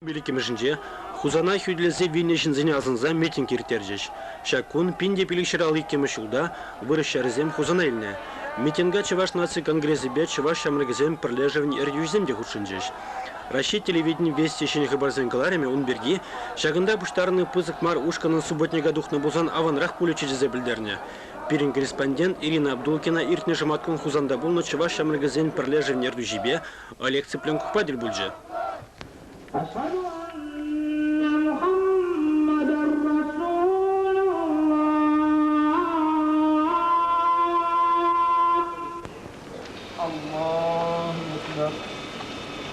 Ҫул иккӗмӗшӗнче Хусана хӳтӗлесе вилнӗ ҫынсене асӑнса митинг ирттерчӗҫ. Ҫак кун пин те пилӗкҫӗр ал иккӗмӗш ҫулта вырӑс ҫарӗсем Хусана илнӗ. Митинга Чӑваш наци конгресӗпе чӑваш ҫамрӑкӗсен пӗрлешӗвӗн ертӳҫисем те хутшӑнчӗҫ. Раҫҫей телевиденин Вести ҫӗнӗ хыпарсен кӑларӑмӗ ун пирки ҫакӑнта пуҫтарӑннӑ пысӑк мар ушкӑнӑн субботника тухнӑ пулсан аванрах пулӗччӗ тесе пӗлтернӗ пирӗн корреспондент Ирина Абдулкина иртнӗ шӑматкун Хусанта пулнӑ чӑваш ҫамрӑкӗсен пӗрлешӗвӗн ертӳҫипе Олег Цыпленковпа тӗл пулчӗ.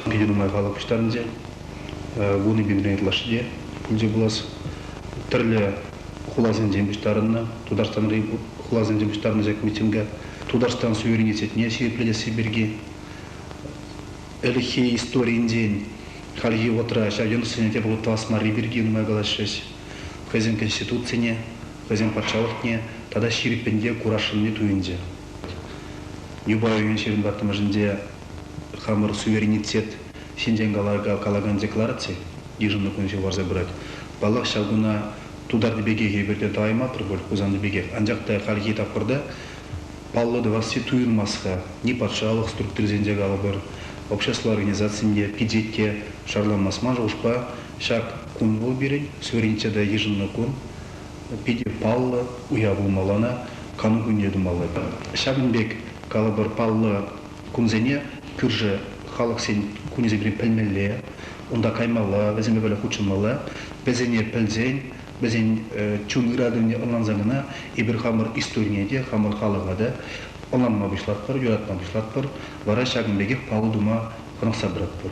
Питӗ нумай халӑх пуҫтарӑнчӗ. Вун икӗ ытлашши пулчӗ пулас. Тӗрлӗ хуласенчен пуҫтарӑннӑ, Тутарстанри хуласенчен пуҫтарӑннӑ ҫак митинга. Тутарстан суверенитетне ҫирӗплетесси пирки Ӗлӗкхи историйӗнчен хальхи вӑхӑтра ҫав йӑнӑшсене те палӑртас марри пирки нумай калаҫрӗҫ. Хӑйсен конституцине, хӑйсен патшалӑхне тата ҫирӗппӗн те курасшӑнни туйӑнчӗ. Юпа ҫырӑн ваттӑмӑршӗнче хамӑр суверенитет ҫинчен калакан деклараци йышӑннӑ кун ҫул парса пырать. Паллах, ҫав куна тутарти пекех эпир те тӑваймастпӑр пуль, Хусанти пекех. Анчах та хальхи тапхӑрта Паллӑ тӑвасси туйӑнмасть-ха, ни патшалӑх структурисенче калӑпӑр, общество организацийӗнче пичете шарламасман шухӑшпа ҫак кун вӑл пирӗн, сверничче та йышӑннӑ кун, питӗ паллӑ уяв пулмалла ӑна, кану кунне тумалла. Ҫакӑн пек, калӑпӑр, паллӑ кунсене кӳршӗ халӑхсен кунӗсенчен пӗлмелле, унта каймалла, вӗсемпе пӗрле хутшӑнмалла, вӗсене пӗлсен вӗсен чун ыратӑвне ӑнланса кӑна эпир хамӑр историне те, хамӑр халӑха та ӑнланма пуҫлатпӑр, юратма пуҫлатпӑр, вара ҫакӑн пекех паллӑ тума хӑнӑхса пыратпӑр.